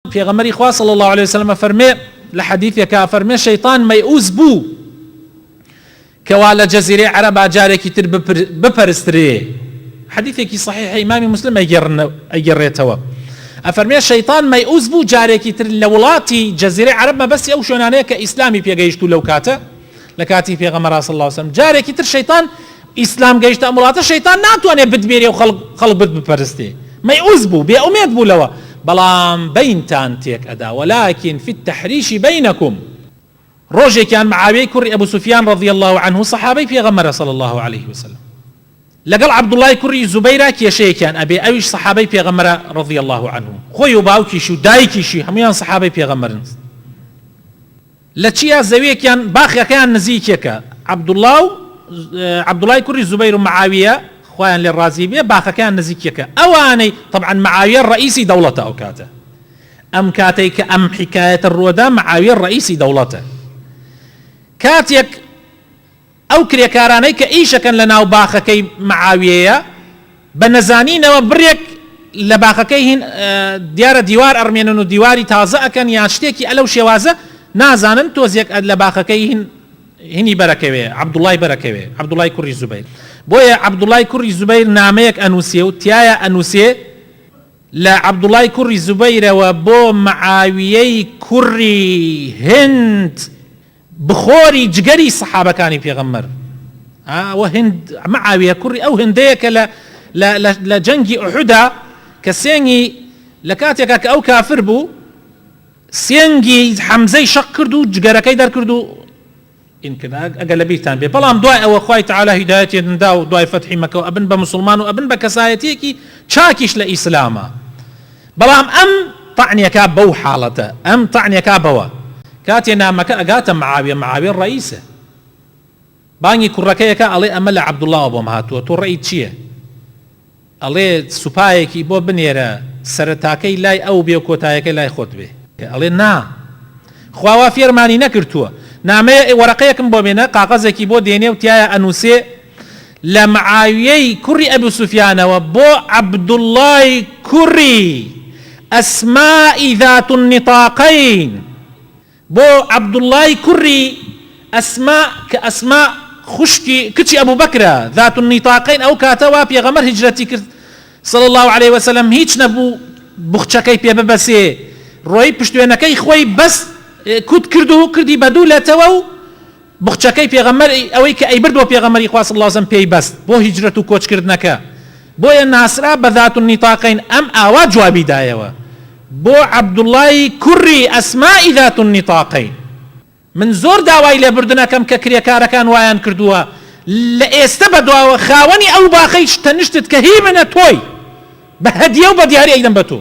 پێغەمبەری خوا صلی اللە علیە وسلم ئەفەرمێ لە حەدیثێکا ئەفەرمێ شەیطان مەیئوس بوو کەوا لە جەزیرەی عەرەبا جارێکی تر بپەرسترێ حەدیثێکی صحیح ئیمامی مسلم ئەگەڕێتەوە ئەفەرمێ شەیطان مەیئوس بوو جارێکی تر لە وڵاتی جەزیرەی عەرەب مەبەستی ئەو شوێنانەیە کە ئیسلامی پێگەیشت و لەو کاتە لەکاتی پێغەمبەرا صلی اللە علیە وسلم جارێکی تر شەیتان ئیسلام گەیشتە ئەم وڵاتە شەیتان ناتوانێ بتبێری و خەڵک خەڵک بت بپەرستێ مەیعوز بوو بێ ئومێد بوو لەوە بەڵام بەینتان تێک ئەدا وەلاکین فی التحریشی بەینەکم ڕۆژێکیان معاویەی کوڕی ئەبو سفیان رضی الله عنه صحابەی پێغەمبەرە صلی الله علیه وسلم لەگەڵ عبدوڵای کوڕی زوبەیرا کێشەیەکیان ئەبێ ئەویش صحابەی پێغەمبەرە رضی الله عنه خۆی و باوکیش و دایکیشی هەمویان صحابەی پێغەمبەرن لە چیا زەویەکیان باخەکەیان نزیکێکە عبداللە و عبداللە ی کوری زبیر و معاویە خوایان لێ ڕازی بێ باخەکەیان نزیکێکە ئەوانەی تەبعەن معاویە ڕەئیسی دەوڵەتە ئەو کاتە ئەم کاتەی کە ئەم حیکایەتە ڕوەدا معاویە ڕەئیسی دەوڵەتە کاتێک ئەو کرێکارانەی کە ئیشەکەن لە ناو باخەکەی مەعاویەیە بە نەزانینەوە بڕێک لە باخەکەی هین دیارە دیوار ئەڕمێنن و دیواری تازە ئەکەن یان شتێکی ئەلەو شێوازە نازانن تۆزێک لە باخەکەی هین هینی بەرەکەوێ عەبدوڵای بەرەکەوێ عەبدوڵای کوڕی زوبەیر بۆیە عەبدوڵای کوڕی زوبەیر نامەیەک ئەنووسێ و تیایا ئەنووسێ لە عەبدوڵای کوڕی زوبەیرەوە بۆ مەعاویەی کوڕی هند بخۆری جگەری سەحابەکانی پێغەمبەر ها وە هند معاویە کوڕی ئەو هندەیە کە لە لە لە جەنگی ئوحدا کە سێنگی لە کاتێکا کە ئەو کافر بوو سێنگی حەمزەی شەق کرد و جگەرەکەی دەرکرد و ئەگە لە بیرتان بێ بەڵام دوای ئەوە خی تعالا هیدایەتی دندا و دوای فەتحی مەکەەوە ئەبن بە مسلمان و ئەبن بە کەسایەتیەکی چاکیش لە ئیسلامە بەڵام ئەم طعن یەکا بەو حاڵەتە ئەم طعن یەکا بەوە کاتێ نامەکە ئەگاتە معاویە معاویە ڕەئیسە بانگی کوڕەکەی ئەکا ئەڵێ ئەمە لە عەبدوڵڵاوە بۆم هاتووە تۆ ڕەئیت چییە ئەڵێ سوپایەکی بۆ بنێرە سەرەتاکەی لای ئەو بێ و کۆتایەکەی لای خۆت بێ ئەڵێ نا خوا وا فێرمانی نەکردووە نامەیە وەرەقەیەکم بۆ بێنە قاقەزێکی بۆ دێنێ و تیایا ئەنووسێ لە معاویەی کوڕی ئەبو سوفیانەوە بۆ عەبدوڵڵای کوڕی ئەسمائی ذات النطاقین، بۆ عەبدوڵڵای کوڕی ئەسما کە ئەسما خوشکی کچی ئەبو بەکرە ذات النطاقین ئەو کاتە وا پێغەمبەر هیجرەتی کرد صلی اللە علیە وسلم هیچ نەبوو بوخچەکەی پێ ببەسێ ڕۆی پشتوێنەکەی خۆی بەست کوت کرد و کردی بە دوو لەتەوە و بخچەکەی پێغەمبەر ی ئەوەی کە ئەیبرد بۆ پێغەمبەری خوا صلی اللە علیە و سلم پێی بەست بۆ هیجرەت و کۆچ کردنەکە بۆیە ناسرا بە ذات النطاقین ئەم ئاوا جوابی دایەوە بۆ عبداللە ی کوڕی اسماء ذات النطاقین من زۆر داوای لێبوردن ئەکەم کە کرێکارەکان وایان کردووە لە ئێستە بەدواوە خاوەنی ئەو باخەی تەنشتت کە هی منە تۆی بە هەدیە و بە دیاری ئەیدەم بە تۆ.